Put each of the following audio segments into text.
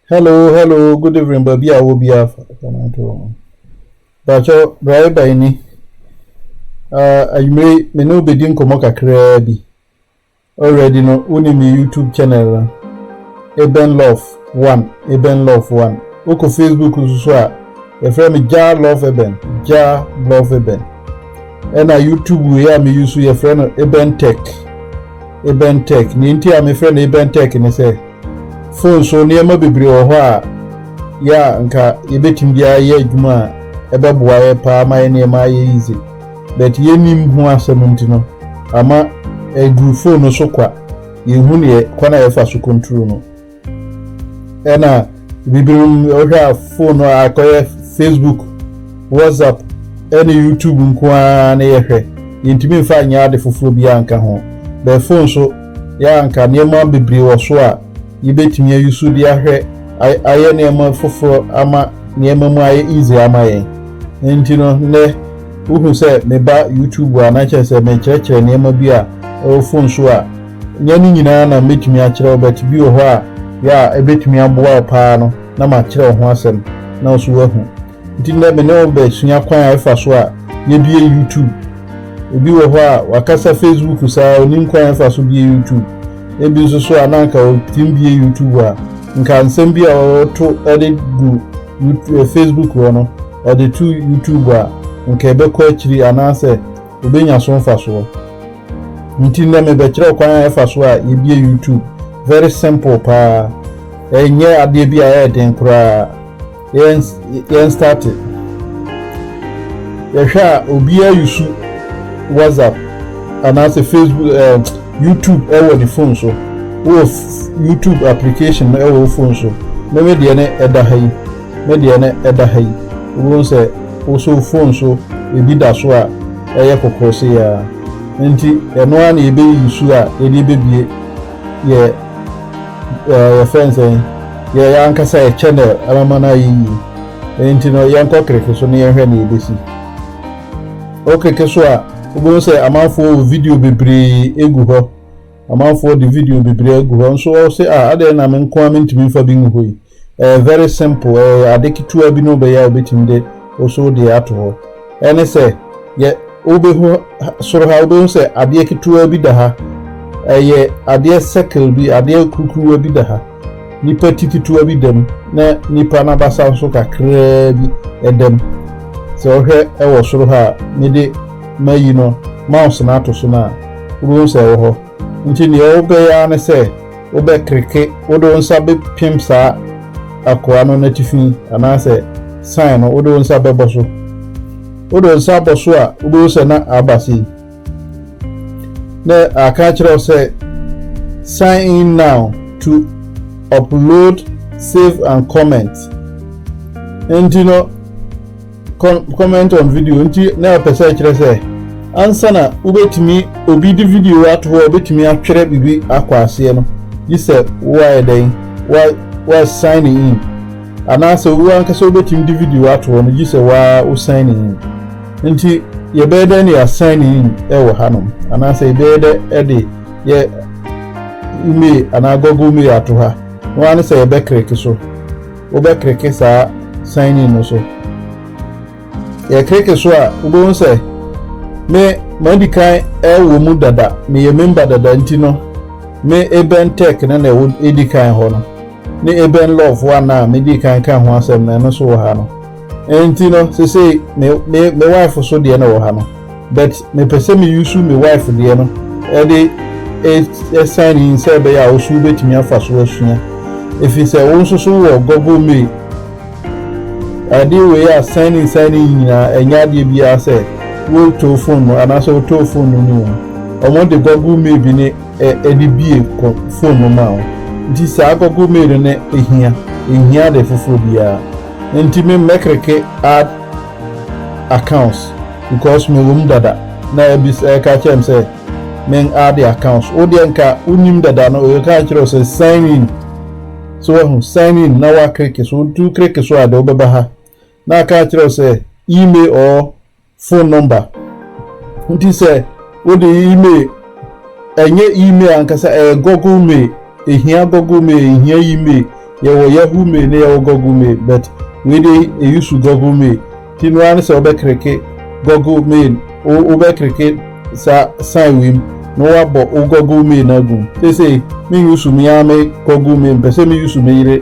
hello hello good evening baabi a wɔ biara fa bàtchɔ driver yi ni anwumire me ne wobɛdi nkɔmmɔ kakraa bi Already no wonim me YouTube channel no Eben Love one Eben Love one wokɔ Facebook nso so a yɛfrɛ me Jah Love Eben Jah Love Eben ɛna YouTube wei a meyi so yɛfrɛ no Eben Tech Eben Tech nea nti a mefrɛ no Eben Tech ne sɛ phone so nneɛma bebree wɔ hɔ a yɛ a nka yɛbɛtumi de ayɛ adwuma a ɛbɛboa yɛ paa ma yɛ nneɛma ayɛ easy but yennim ho asɛm nti no ama aduru phone no so kwa, yenhu deɛ kwan a yɛfa so control no. Ɛna bibinom wohwɛ a phone no akɔyɛ Facebook, WhatsApp ɛne YouTube nko ara na yɛhwɛ, yɛntumi mfa nyɛ ade foforɔ biara nka ho. But phone so yɛ a nka nneɛma bebree wɔ so a Yebetumi ayi so de ahwɛ ayɛ nneɛma foforo ama nneɛma mu ayɛ easy ama yɛn. Enti no, nnɛ wohu sɛ meba YouTube a, na kyerɛ sɛ merekyerɛkyerɛ nneɛma bi a ɛwɔ phone so a, nyɛ ne nyinaa na metumi akyerɛ wo, but bi wɔ hɔ a, yɛ a ebetumi aboa wo paa no, na makyerɛ wo ho asɛm na wo nso woahu. Nti nnɛ me ne wo bɛsua kwan a ɛfa so a yɛbie YouTube. Obi wɔ hɔ a wakasa Facebook saa ɔnim kwan a ɛfa so bie YouTube. Ebi nso so a na anka ɔtim bie YouTube a, nka nsɛm bi a ɔto de gu eh, Facebook hɔ no ɔde to YouTube a, nka ɛbɛkɔ akyiri anaasɛ obenya so mfasoɔ. Nti nnɛ mebɛkyerɛ kwan a ɛfa so a yɛbie YouTube. Very simple paa. Ɛnyɛ adeɛ bi a ɛyɛ den koraa. Yɛn yɛn start yɛhwɛ a obiara yusu whatsapp anaasɛ facebook eh, youtube ɛwɔ ne phone so wɔ youtube application no ɛwɔ phone so me me deɛ ne ɛda ha yi me deɛ ne ɛda ha yi wɔn sɛ wosɔ phone so ebi da so a ɛyɛ kɔkɔɔ se ya nti ɛno ara na yɛbɛyi yusu a yɛde bɛbie yɛ ɛɛ yɛfrɛ no sɛn yɛ yɛn ankasa yɛ channel ɛbɛma no ayɛ yie ɛno nti no yɛnkɔ kreke so na yɛnhwɛ nea ɛbɛsi wɔ kreke so a wobɛhu sɛ amanfoɔ wɔ video bebree egu hɔ amanfoɔ de video bebree agu hɔ nso wɔn se a adɛn na me nko a mentumi nfa bi ngu hɔ yi Ɛyɛ very simple, ɛyɛ ade ketewa bi na wobɛyɛ a wobɛtumi de wo so deɛ ato hɔ. Ɛne sɛ, yɛ wobɛhu soro ha, wobɛhu sɛ adeɛ ketewa bi da ha. Ɛyɛ adeɛ circle bi, adeɛ kurukuruwa bi da ha. Nipa ti ketewa bi da mu, na nipa n'abasa nso kakraa bi ɛda mu. Sɛ wohwɛ ɛwɔ soro ha a, mede mayi no mouse no ato so no a, wobɛhu sɛ ɛwɔ hɔ. Nti deɛ wobɛyɛ ara ne sɛ wobɛkreke, wode wo nsa bɛpem saa akoa no n'atifi anaasɛ sign no wode wo nsa bɛbɔ so. Wode wo nsa bɔ so a, wobɛhu sɛ na aba sei. Na aka akyerɛ wo sɛ sign in now to upload, save and comment. Nti no, Con comment on video nti na ɛpɛ sɛ ɛkyerɛ sɛ ansa na wobɛtumi obi de video ato hɔ a wobɛtumi atwerɛ biribi akɔ aseɛ no gye sɛ woayɛ dɛn wa wa sign in anaasɛ wo ankasa wobɛtumi de video ato hɔ no gye sɛ waa wo sign in nti yɛbɛyɛ dɛ ne yɛasan ne in wɔ hanom anaasɛ yɛbɛyɛ dɛ de yɛ email anaa google mail ato ha na wɔn ano sɛ yɛbɛkreke so wobɛkleke saa sign in no so. Yɛkleke so a, wobɛhu sɛ me madi kan ɛwɔ mu dada, meyɛ member dada nti no, me Ebɛn Tech no na ɛwɔ ɛdi kan hɔ no, ne Ebɛn Love one a medi kan ka ho asɛm no ɛno nso wɔ ha no. Nti no sesei me me me wife so deɛ na wɔ ha no but mepɛ sɛ me use me wife deɛ no ɛde e sign in sɛ ɛbɛyɛ a wo so wobɛtumi afa so asua ɛfiri sɛ wo nso so wɔ Google me ade wei a sign in sign in nyinaa ɛnyɛ adeɛ biara sɛ wo to phone no anaasɛ wo to phone no ne wo mu wɔn de Google me bi ne ɛde bie kɔ phone no ma wo nti saa Google me no ne ɛhia ɛhia ade foforɔ biara Nti me mɛkreke add accounts because me wom dada na abis ɛka kyerɛ me sɛ men add accounts wo deɛ nka wo nim dada no ɔka kyerɛ sɛ sign in so wahu sign in na wa kreke so nti wo kreke so a deɛ wobɛba ha na aka kyerɛ sɛ email or phone number nti sɛ wode email ɛnyɛ email ankasa ɛyɛ google mail ehia google mail ehia email yɛwɔ yahoo mail ne yɛwɔ google mail but wei de eyusu google mail ti no ara sɛ wobɛkereke google mail wobɛkereke saa sign wei mu na wabɔ wo google mail no agum sese me yusu me ara me google mail mpɛ sɛ me yusu me yere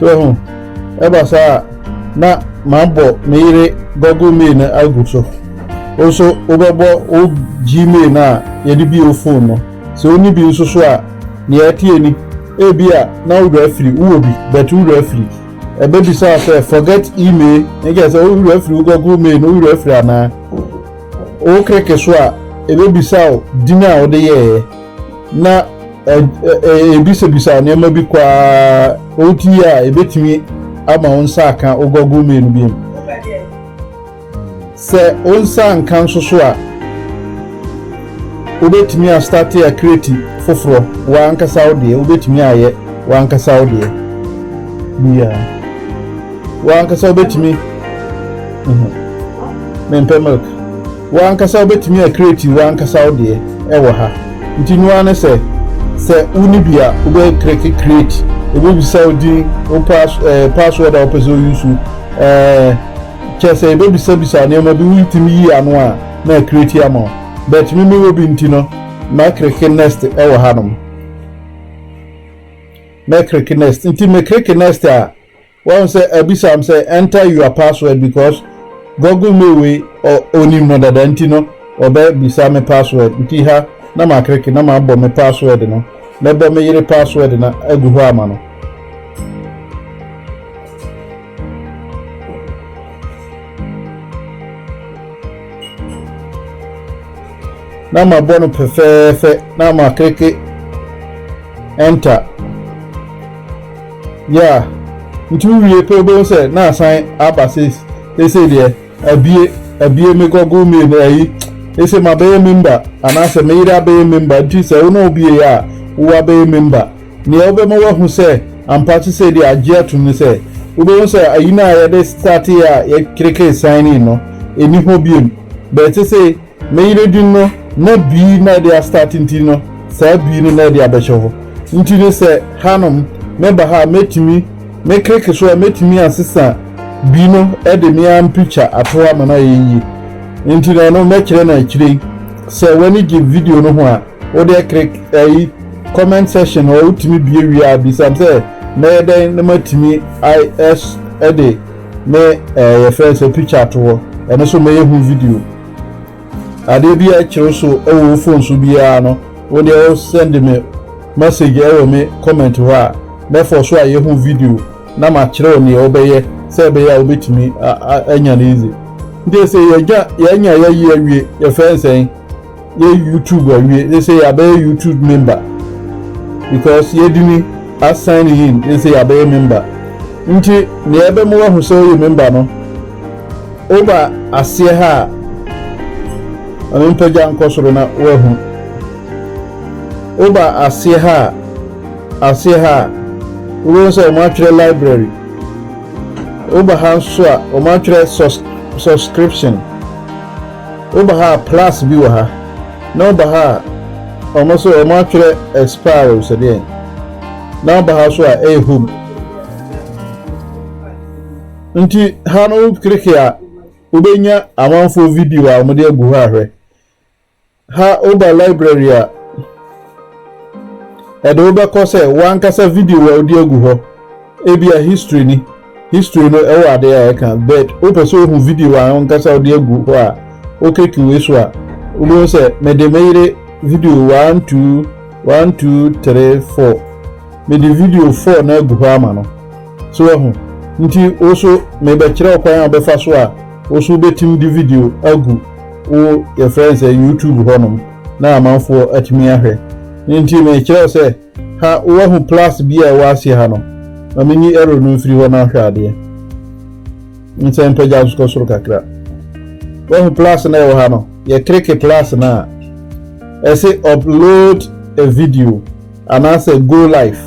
so ho ɛba saa a na mabɔ me yere google mail no agu so wo nso wobɛbɔ wo gmail no a yɛde bi wo phone no Sɛ wonni bi nso so a, nea ɛteɛ ni, Ebia na wo werɛ afiri, wowɔ bi, but wo werɛ afiri. Ɛbɛbisa wo sɛ, Forget e-mail? Ɛnkyerɛ sɛ wo werɛ afiri wo Google Mail no, wo werɛ afiri anaa? Wo kreke so a, ɛbɛbisa wo din a wode yɛeɛ, na ɛbisabisa wo nneɛma bi kɔ ara, oti a ɛbɛtumi ama wo nsa aka wo Google Mail no biom. Sɛ wo nsa anka nso so a, wobɛtumi astate akreti foforɔ w'ankasa wo deɛ, wobɛtumi ayɛ w'ankasa wo deɛ biara. W'ankasa wobɛtumi, mhm, mempɛ milk. W'ankasa wobɛtumi akreti w'ankasa wo deɛ ɛwɔ ha. Nti noa ne sɛ, sɛ woni bi a, wobɛkreki kreti, ɛbɛbisa wo din, wo pass, eh, password a wopɛ sɛ woyusu, eh, Kyɛ sɛ yebebisabisa nneɛma bi wuntumi yii ano a, na akreti ama wo. But me mewɔ bi nti no, mɛkreke next wɔ hanom. Mɛkreke next. Nti mekreke next a, wahu sɛ abisa m sɛ enter your password because Google mail wei onim no dada nti no ɔbɛbisa me password. Nti ha na makreke na mabɔ me password no. Mɛbɔ me yere password no agu hɔ ama no. na mabɔ no fɛfɛɛfɛ na makleke enter yeah nti wowie pɛ wobɛhu sɛ na asan aba seesei deɛ abie abie me google mail no ayi ɛsɛ mabɛyɛ member anaasɛ meyere abɛyɛ member nti sɛ wo ne wobie a wowɔ abɛyɛ member Nea ɔbɛma woahu sɛ ampa ate sɛ de agye atom ne sɛ wobɛhu sɛ ayi no a yɛde startee a yɛkrekee signee no nni hɔ bio. Nea ɛte sɛ meyere din no na bii na ɛde astarte nti no saa bii no na ɛde abɛhyɛ hɔ nti no sɛ hanom meba ha a mɛtumi mekreke so a mɛtumi asesa bii no de me ara mpikya ato hɔ ama no ayɛ yie nti no ɛno mɛkyerɛ no akyire yi sɛ w'ani gye video no ho a. Wo deɛ click ɛyi comment section hɔ wotumi bie wie a bisam sɛ mɛyɛ dɛn na matumi as ɛde me ɛɛ yɛfrɛ sɛ picture ato hɔ ɛno so mɛyɛ ho video adeɛ bi a ɛkyerɛ so ɛwɔ wo phone so biara no wo deɛ wo send me message ɛwɔ me comment hɔ a mɛfɔ so ayɛ ho video na makyerɛ wo neɛ wobɛyɛ sɛ ɛbɛyɛ a wobɛtumi anya no easy nti sɛ yɛgya yɛanya yɛyi awie yɛfrɛ nsɛn yɛ youtube awie ne sɛ yɛabɛyɛ youtube member because yɛdini asign in ne sɛ yɛabɛyɛ member nti nea ɛbɛma wahu sɛ woyɛ member no woba aseɛ ha a ɔno mpagya nkɔ soro na woahu woba aseɛ ha a aseɛ ha a wobɛhu sɛ wɔn atwerɛ library woba ha nso a wɔn atwerɛ subscription Woba ha a plus bi wɔ ha na woba ha a wɔn nso wɔn atwerɛ expiry sɛ deɛn na woba ha nso a ɛyɛ home nti ha no wokleke a wobɛnya amanfoɔ video a wɔde agu hɔ ahwɛ ha woba library a ɛde wobɛkɔ sɛ wankasa video a wode agu hɔ ebi a history ni History no ɛwɔ ade a ɛka but wopɛ sɛ ohu video a ankasa wode agu hɔ a wokeki wei so a wobɛhu sɛ mede me yere video one two one two three four mede video four no agu hɔ ama no so wahu nti wo so mebɛkyerɛ wo kwan a wobɛfa so a wo so wobɛtumi de video agu wo yɛfrɛ no sɛ YouTube hɔnom na amanfoɔ atumi ahwɛ nti mekyerɛ wo sɛ Ha woahu plus bi a ɛwɔ aseɛ ha no? Ma menyi arrow no mfiri hɔ na ahwɛ adeɛ. Nsɛ mpagya nso kɔ soro kakra. Woahu plus na ɛwɔ ha no? Yɛ kleke plus no a ɛse upload a video anaasɛ go live.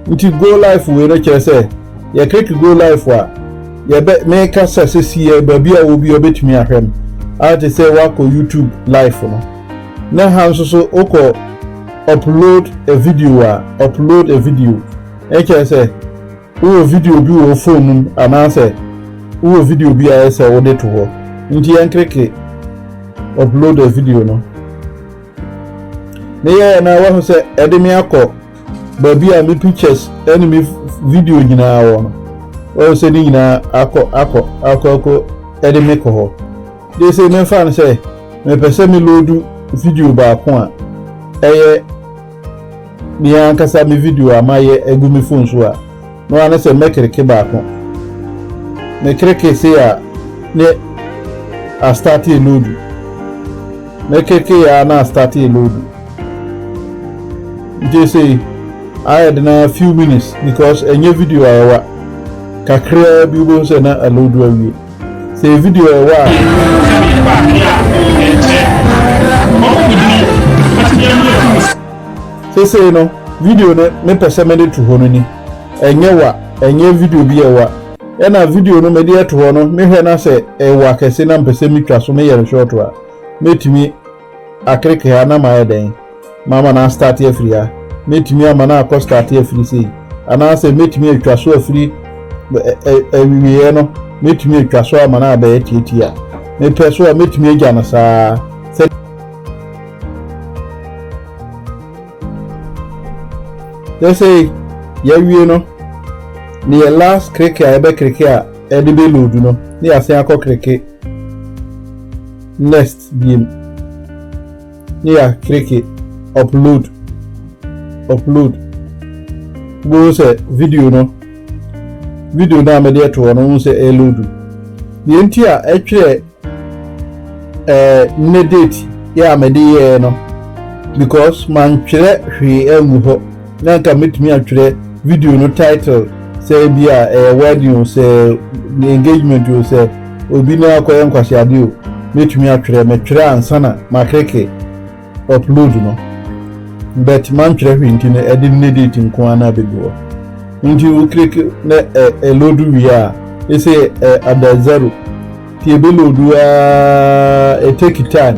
Nti go live wei no kyerɛ sɛ yɛ kleke go live a yɛbɛ meka sɛ sɛsi yɛ baabi a wɔ bi ɔbɛtumi ahwɛ no. Ayɛ te sɛ woakɔ YouTube live no. na ɛha nso so wokɔ upload a video a upload a video ɛkyerɛ sɛ wowɔ video bi wɔ phone mu anaasɛ wowɔ video bi a ɛsɛ wode to hɔ nti yɛnkreke upload a video no ne yɛyɛ na wahu sɛ ɛde me akɔ baabi a me pictures ɛne me video nyinaa wɔ no wɔn sɛ ne nyinaa akɔ akɔ akɔ akɔ ɛde me kɔ hɔ. Gye sɛ memfa no sɛ mepɛ sɛ meloodu video baako a ɛyɛ me ankasa me video a mayɛ agu me fon so a, na wɔane sɛ mɛkreke baako. Mekreke sei a ne astate loodu. Mekreke yɛ a na astate loodu. Gye sɛ ayɛ de na few minutes because ɛnyɛ video a ɛwa kakraa bi wobɛhu sɛ na aloodu awie. Sɛ video a ɛwɔ a. Sɛdeɛ ɛba adeɛ a ɛnkyɛ ɔwodini atedeɛ no atum sɛ. Sesei no video no me pɛ sɛ mede to hɔ no ni ɛnyɛ wa ɛnyɛ video bi a ɛwa. Ɛna video no mede ɛto hɔ no me hwɛ na sɛ ɛwa kɛse na mpɛ sɛ me twa so me yɛ no short a mɛtumi. Akereke ha na mayɛ dɛn mama no astarte afiri ha? Mɛtumi ama no akɔ starte afiri sei? Anaasɛ mɛtumi atwa so afiri awieeɛ no, mɛtumi atwa so ama no abɛyɛ tiatia? Mepɛ so a, mɛtumi agya no saa ara. Sɛsei yɛawie no, ne yɛ last kreke a yɛbɛkreke a ɛde bɛloadu no, na yɛasen akɔ kreke. Next biem ne yɛ akleke upload upload wobɛhu sɛ video no video no a mede ɛto hɔ no wohu sɛ ɛloadu deɛ nti a ɛtwerɛ ɛɛ ne date yɛ a mede yɛɛ no because mantwerɛ hwee angu hɔ na anka mɛtumi atwerɛ video no title sɛ bi a ɛyɛ wedding o sɛ engagement o sɛ obi na akɔyɛ nkwaseade o mɛtumi atwerɛ mɛtwerɛ ansa na makreke upload no but mantwerɛ hwee nti no ɛde ne date nko ara na abɛgu hɔ nti wokreke na ɛlodu wie a ɛsɛ ada zero nti ɛbɛlodu a ɛtake time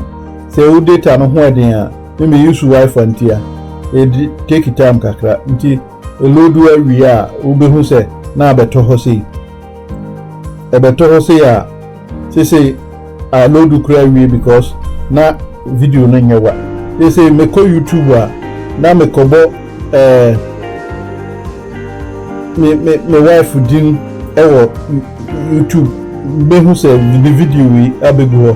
sɛ wo data no ho ɛden a Me me use wifi nti a it take time kakra nti eloadu awie a wobɛhu sɛ na abɛtɔ hɔ sei ɛbɛtɔ hɔ sei a seesei aloadu koraa awie because na video no nyɛ wa seesei mekɔ youtube a na mekɔbɔ ɛɛ eh, me me me wife din ɛwɔ youtube bɛhu sɛ ne video yi abɛgu hɔ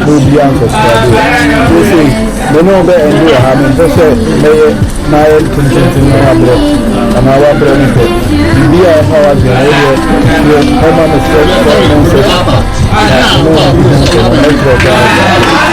na obiara nkɔsoa deɛ seesei me ne ɔbɛ ɛnde wɔ ha mempɛ sɛ mɛyɛ n'ayɛ ntententem na wabrɛ anaa wabrɛ me pɛ biribi a ɛfa wadwene wo deɛ deɛ ɔma me sɛ sɛ mo nsɛ na mo nsɛ sɛ mo ɛkyerɛ ɔbɛ